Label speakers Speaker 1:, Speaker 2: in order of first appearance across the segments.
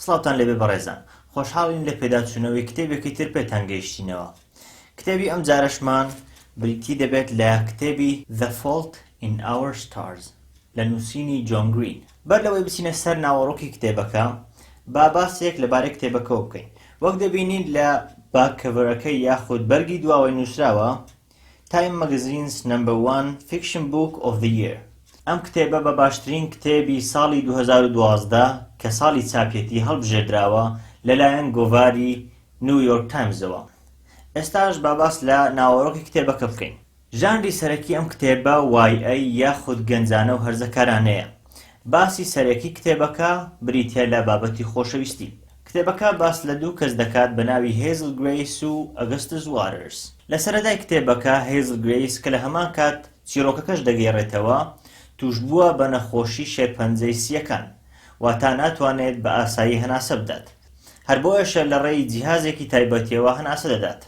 Speaker 1: سڵاوتان لێبێ بەڕێزان، خۆشحاڵین لە پێداچوونەوەی کتێبێکی تر پێتان گەیشتینەوە. کتێبی ئەمجارەشمان بریتی دەبێت لە کتێبی The Fault in Our Stars لە نووسینی جۆن گرین. بەر لەوەی بچینە سەر ناوەڕۆکی کتێبەکە، با باسێک لەبارەی کتێبەکەوە بکەین. وەک دەبینین لە باک کەڤەرەکەی یاخود بەرگی دواوەی نووسراوە، تایم مەگەزینس نەمبەر وان فیکشن بووک ئۆف زە ییر ئەم کتێبە بە باشترین کتێبی ساڵی دوو هەزار و دوازدە کە ساڵی چاپیەتی هەڵبژێردراوە لەلایەن گۆڤاری نیو یۆرک تایمزەوە ئێستاش با باس لە ناوەڕۆکی کتێبەکە بکەین ژانری سەرەکی ئەم کتێبە وای ئەی یاخود گەنجانە و هەرزەکارانەیە باسی سەرەکی کتێبەکە بریتیە لە بابەتی خۆشەویستی. کتێبەکە باس لە دوو کەس دەکات بە ناوی هێزل گرەیس و ئەگەستس واترس. لە سەرەتای کتێبەکە هێزل گرەیس کە لە هەمان کات چیڕۆکەکەش دەگێڕێتەوە، تووشبووە بە نەخۆشی شێرپەنجەی سییەکان، واتا ناتوانێت بە ئاسایی هەناسە بدات. هەر بۆیەشە لە ڕێی جیهازێکی تایبەتیەوە هەناسە دەدات.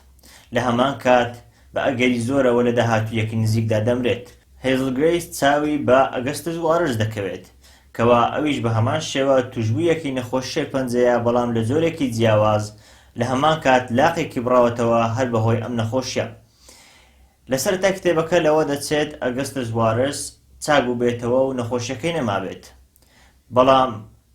Speaker 1: لە هەمان کات بە ئەگەری زۆرەوە لە داهاتوویەکی نزیکدا دەمرێت. هێزل گرەیس چاوی بە ئەگەستس واترس دەکەوێت، کەوا ئەویش بە هەمان شێوە توشبوویەکی نەخۆش شێرپەنجەیە بەڵام لە جۆرێکی جیاواز لە هەمان کات لاقێکی بڕاوەتەوە هەر بە هۆی ئەم نەخۆشیە لە سەرەتای کتێبەکە لەوە دەچێت ئەگستس وارس چاک بووبێتەوە و نەخۆشیەکەی نەمابێت بەڵام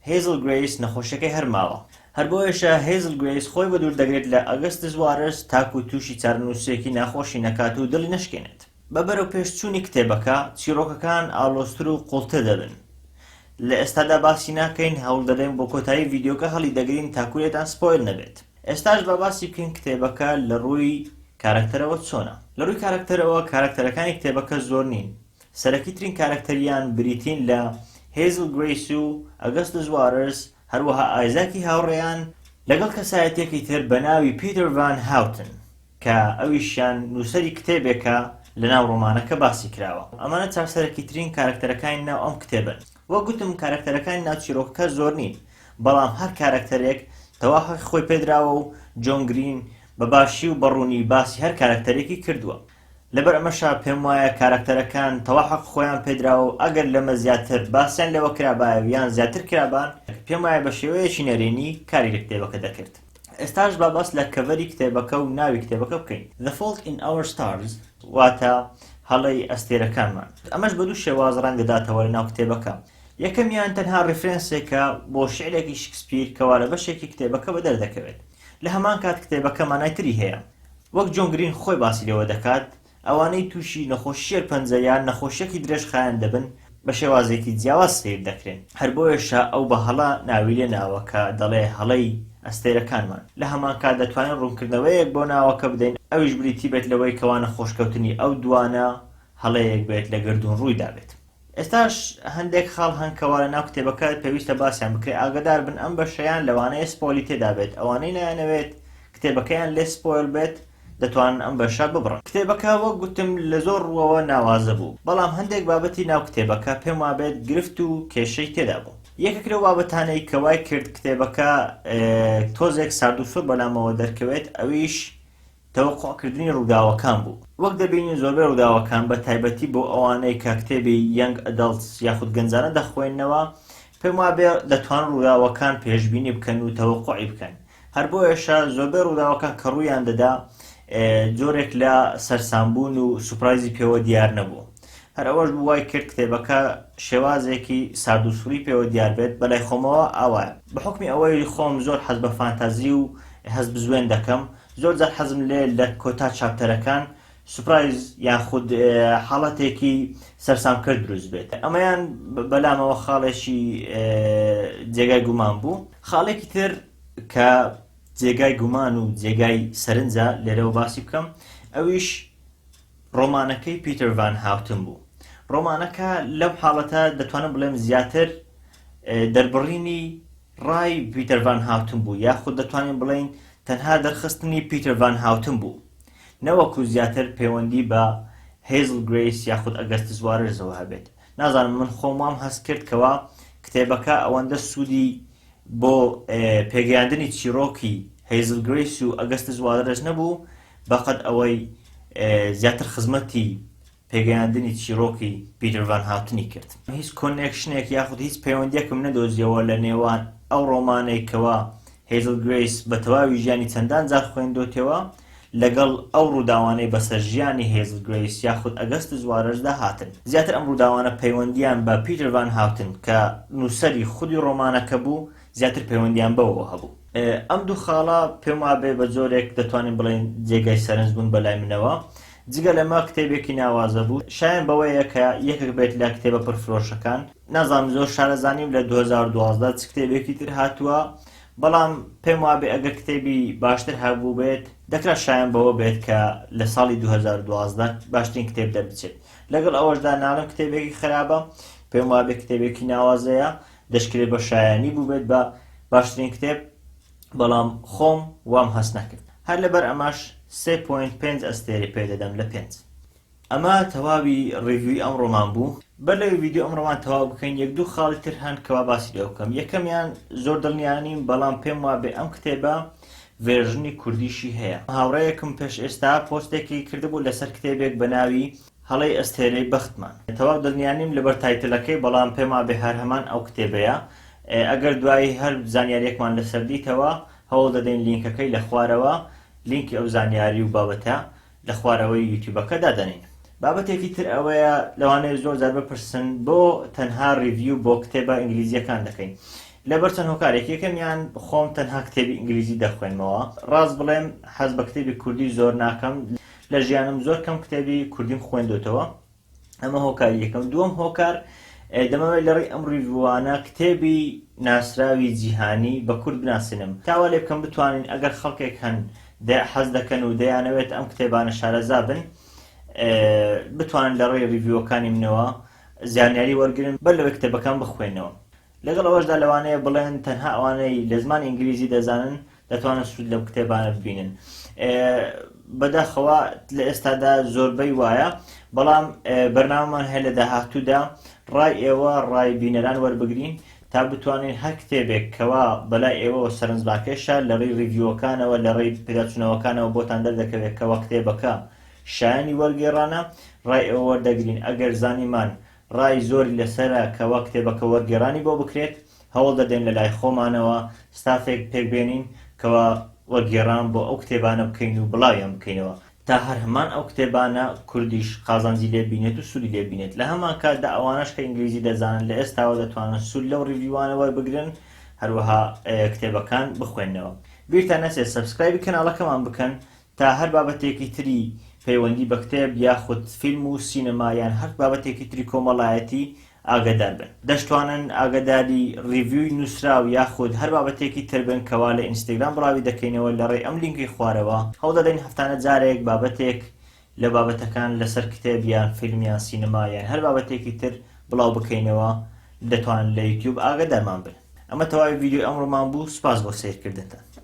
Speaker 1: هێزل گرەیس نەخۆشیەکەی هەر ماوە هەر بۆیەشە هێزل گرەیس خۆی بەدوور دەگرێت لە ئەگستس وارس تاکو تووشی چارەنووسێکی ناخۆشی نەکات و دڵی نەشکێنێت. بە بەرەوپێشچوونی کتێبەکە، چیڕۆکەکان ئاڵۆزتر و قوڵتر دەبن. لە ئێستادا باسی ناکەین، هەوڵدەدەین بۆ کۆتایی ڤیدیۆکە هەڵیدەگرین تاکو لێتان سپۆیل نەبێت. ئێستاش با باسی بکەین کتێبەکە لە ڕووی کارەکتەرەوە چۆنە. لە ڕووی کارەکتەرەوە، کارەکتەرەکانی کتێبەکە زۆر نین. سەرەکیترین کارەکتەریان بریتین لە هێزڵ گرەیس و ئەگەستس واررس، هەروەها ئایزاکی هاوڕێیان، لەگەڵ کەسایەتییەکی تر بە ناوی پیتر ڤان هاوتن. کە ئەویشیان نووسەری کتێبێکە لەناو ڕۆمانەکە باسی کراوە. ئەمانە چارسەرەکیترین کارەکتەرەکانی ناو ئەم کتێبەن. وەک گوتم کارەکتەرەکانی ناو چیرۆکەکە زۆر نین، بەڵام هەر کارەکتەرێک تەواو حەقی خۆی پێدراوە و جۆن گرین بە باشی و بە ڕوونی باسی هەر کارەکتەرێکی کردووە. لەبەر ئەمەشە پێم وایە کارەکتەرەکان تەواو حەقی خۆیان پێدراوە و ئەگەر لەمە زیاتر باسیان لێوە کرابایە و یان زیاتر کرابان، پێم وایە بە شێوەیەکی نەرێنی کاری لە کتێبەکە دەکرد. ئێستاش با باس لە کەڤەری کتێبەکە و ناوی کتێبەکە بکەین The Fault in Our Stars واتە هەڵەی ئەستێرەکانمان ئەمەش بە دوو شێواز ڕەنگ دەداتەوە لە ناو کتێبەکە یەکەمیان تەنها ڕیفرەنسێکە بۆ شعرێکی شکسپیر کەوا لە بەشێکی کتێبەکە بە دەردەکەوێت لە هەمان کات کتێبەکە مانای تری هەیە وەک جۆن گرین خۆی باسی لێوە دەکات ئەوانەی تووشی نەخۆشی شێرپەنجە یان نەخۆشییەکی درێژخایەن دەبن بە شێوازێکی جیاواز سەیر دەکرێن، هەر بۆیەشە ئەو بە هەڵە ناوی لێ ناوە کە دەڵێ هەڵەی ئەستێرەکانمان. لە هەمان کات دەتوانین ڕوونکردنەوەیەک بۆ ناوەکە بدەین ئەویش بریتی بێت لەوەی کەوا نەخۆشکەوتنی ئەو دووانە هەڵەیەک بێت لە گەردوون ڕووی دابێت. ئێستاش هەندێک خاڵ هەن کەوا لە ناو کتێبەکە پێویستە باسیان بکرێ ئاگدار بن ئەم بەشەیان لەوانەیە سپۆلی تێدا بێت ئەوانەی نایانەوێت کتێبەکەیان لێ سپۆیل بێت دەتوانن ئەم بەشە ببڕن کتێبەکە وەک گوتم لە زۆر ڕووەوە ناوازە بوو بەڵام هەندێک بابەتی ناو کتێبەکە پێم وابێت گرفت و کێشەی تێدا بوو یەکێک لەو بابەتانەی کە وای کرد کتێبەکە تۆزێک سارد و سوور بەلامەوە دەرکەوێت ئەویش تەوەقوعکردنی ڕووداوەکان بوو. وەک دەبینین زۆربەی ڕووداوەکان، بە تایبەتی بۆ ئەوانەی کە کتێبی Young Adults یاخود گەنجانە دەخوێننەوە، پێم وابێ دەتوانن ڕووداوەکان پێشبینی بکەن و تەوەقوعی بکەن. هەر بۆیەشە زۆربەی ڕووداوەکان کە ڕوویان دەدا، جۆرێک لە سەرسامبوون و سوپرایزی پێوە دیار نەبوو. هەر ئەوەش بوو وای کرد کتێبەکە شێوازێکی سارد و سڕی پێوە دیار بێت، بەلای خۆمەوە ئاوایە. بە حوکمی ئەوەی خۆم زۆر حەز بە فانتازی و هەستبزوێن دەکەم، زۆر جار حەزم لێ لە کۆتا چاپتەرەکان سوپرایز یاخود حاڵەتێکی سەرسامکەر دروست بێت ئەمەیان بەلامەوە خاڵێکی جێگای گومان بوو خاڵێکی تر کە جێگای گومان و جێگای سەرنجە لێرەوە باسی بکەم ئەویش ڕۆمانەکەی پیتەر ڤان هاوتن بوو ڕۆمانەکە لەم حاڵەتە دەتوانم بڵێم زیاتر دەربڕینی ڕای پیتەر ڤان هاوتن بوو، یاخود دەتوانین بڵێین تەنها دەرخستنی پیتەر ڤان هاوتن بوو، نەوەکو زیاتر پەیوەندی بە هەیزڵ گرەیس یاخود ئەگەستس واررزەوە هەبێت. نازانم، من خۆم وام هەست کرد کەوا کتێبەکە ئەوەندە سوودی بۆ پێگەیاندنی چیڕۆکی هەیزڵ گرەیس و ئەگەستس واررز نەبوو بەقەد ئەوەی زیاتر خزمەتی پێگەیاندنی چیڕۆکی پیتر ڤان هاتنی کرد. هیچ کۆنێکشنێک یاخود هیچ پەیوەندیەکم نەدۆزیەوە لە نێوان ئەو ڕۆمانەی کەوا هەیزڵ گرەیس بە تەواوی ژیانی چەندان جار خوێندۆتیەوە لەگەڵ ئەو ڕووداوانەی بەسەر ژیانی هەیزڵ گرەیس یاخود ئەگەستس وارەرز دا هاتن. زیاتر ئەم ڕووداوانە پەیوەندیان بە پیتر ڤان هاتن کە نووسەری خودی ڕۆمانەکە بوو زیاتر پەیوەندیان بەوەوە هەبوو. ئەم دوو خاڵە پێم وابێ بە جۆرێک دەتوانین بڵێین جێگای سەرنج بوون بە لای منەوە. جگە لەمە کتێبێکی ناوازە بوو. شایەن بەوەیە کە یەکێک بێت لە کتێبە پڕفرۆشەکان. نازانم زۆر شارەزا نیم لە دوو هەزار و دوازدە چ کتێبێکی تر هاتووە، بەڵام پێم وابێ ئەگەر کتێبی باشتر هەبووبێت، دەکرا شایەن بەوە بێت کە لە ساڵی دوو هەزار و دوازدە باشترین کتێب دەربچێت. لەگەڵ ئەوەشدا ناڵێم کتێبێکی خەرابە، پێم وابێ کتێبێکی ناوازەیە، دەشکرێت بە شایانی بووبێت بە باشترین کتێب بەڵام خۆم وام هەست نەکرد هەر لەبەر ئەمەش 3.5 ئەستێرەی پێ دەدەم لە پێنج ئەمە تەواوی ڕیوی ئەم ڕۆمان بوو بەر لەوی ڤیددیو ئەم ڕۆمان تەواو بکەین یەک دوو خاڵی تر هەن کەوا باسی لێ بکەم یەکەمیان زۆر دڵنیانیم بەڵام پێم وابێ ئەم کتێبە ڤێژنی کوردیشی هەیە هاوڕەیەکم پێش ئێستا پۆستێکی کردبوو لەسەر کتێبێک بە ناوی هەڵەی ئەستێرەی بەختمان. تەواو دڵنیانیم لەبەر تایتلەکەی بەڵام پێمابێ هەرهەمان ئەو کتێبەیە ئەگەر دوایی هەر زانیاریەکمان لەسەر دیتەوە هەوڵ دەدەین لینکەکەی لەخوارەوە لینکی ئەو زانیاری و بابەتە لەخوارەوەی یوتیوبەکە دادەنین بابەتێکی تر ئەوەیە لەوانەیە زۆر جار بپرسن بۆ تەنها ریڤیو بۆ کتێبە ئینگلیزیەکان دەکەین لەبەر چەند هۆکارێک یەکەمیان خۆم تەنها کتێبی ئینگلیزی دەخوێنمەوە ڕاست بڵێم حەز بە کتێبی کوردی زۆر ناکەم لە ژیانم زۆر کەم کتێبی کوردیم خوێندۆتەوە ئەمە هۆکاری یەکەم دووەم هۆکار دەمەوێت لە ڕێی ئەم ڕیڤوانە کتێبی ناسراوی جیهانی بە کورد بناسینم تاوا لێ بکەم بتوانین ئەگەر خەڵکێک هەن حەز دەکەن و دەیانەوێت ئەم کتێبانە شارەزا بن بتوانن لە ڕێی ڕیڤیوەکانی منەوە زانیاری وەرگن بەر لەوەی کتێبەکان بخوێنەوە لەگەڵ ئەوەشدا لەوانەیە بڵێن تەنها ئەوانەی لە زمانی ئینگلیزی دەزانن دەتوانن سوود لەم کتێبانە ببینن بەداخەوە لە ئێستادا زۆربەی وایە بەڵام بەرناومان هەیە لە داهاتوودا ڕای ئێوە ڕای بینەران وەربگرین تا بتوانین هەر کتێبێک کەوا بەلای ئێوەوە سەرنجباکێشە لە ڕێی ڕیڤیوەکانەوە لە ڕێی پێداچوونەوەکانەوە بۆتان دەردەکەوێت کەوا کتێبەکە شایانی وەرگێڕانە ڕای ئێوە وەردەگرین ئەگەر زانیمان ڕای زۆری لەسەرە کە وەک کتێبەکە وەرگێڕانی بۆ بکرێت، هەوڵ دەدەین لە لای خۆمانەوە ستافێک پێک بێنین کەوا وەرگێڕان بۆ ئەو کتێبانە بکەین و بڵاویان بکەینەوە تا هەر هەمان ئەو کتێبانە کوردیش قازانجی لێ بینێت و سوودی لێ بینێت لە هەمان کاتدا ئەوانەش کە ئینگلیزی دەزانن لە ئێستاوە دەتوانن سوود لەو ڕیڤیوانە وەربگرن هەروەها کتێبەکان بخوێنەوە بیرتان نەچێت سەبسکرایبی کەناڵەکەمان بکەن تا هەر بابەتێکی تری پەیوەندی بە کتێب یاخود فیلم و سینەما یان هەر بابەتێکی تری کۆمەڵایەتی ئاگەدار بن. دەشتوانن ئاگەداری ڕیڤیوی نوسراو یاخود هەر بابەتێکی تر بن کەوا لە ئینستاگرام بڵاوی دەکەینەوە لەڕێی ئەم لینکەی خوارەوە، هەوڵدەدەین هەفتانە جارێک بابەتێک لە بابەتەکان لەسەر کتێب یان فیلم یان سینەما یان هەر بابەتێکی تر بڵاو بکەینەوە دەتوانن لە یوتیوب ئاگەدارمان بن. ئەمە تەواوی ڤیدیۆی ئەمڕۆمان بوو سوپاس بۆ سەیرکردنتان.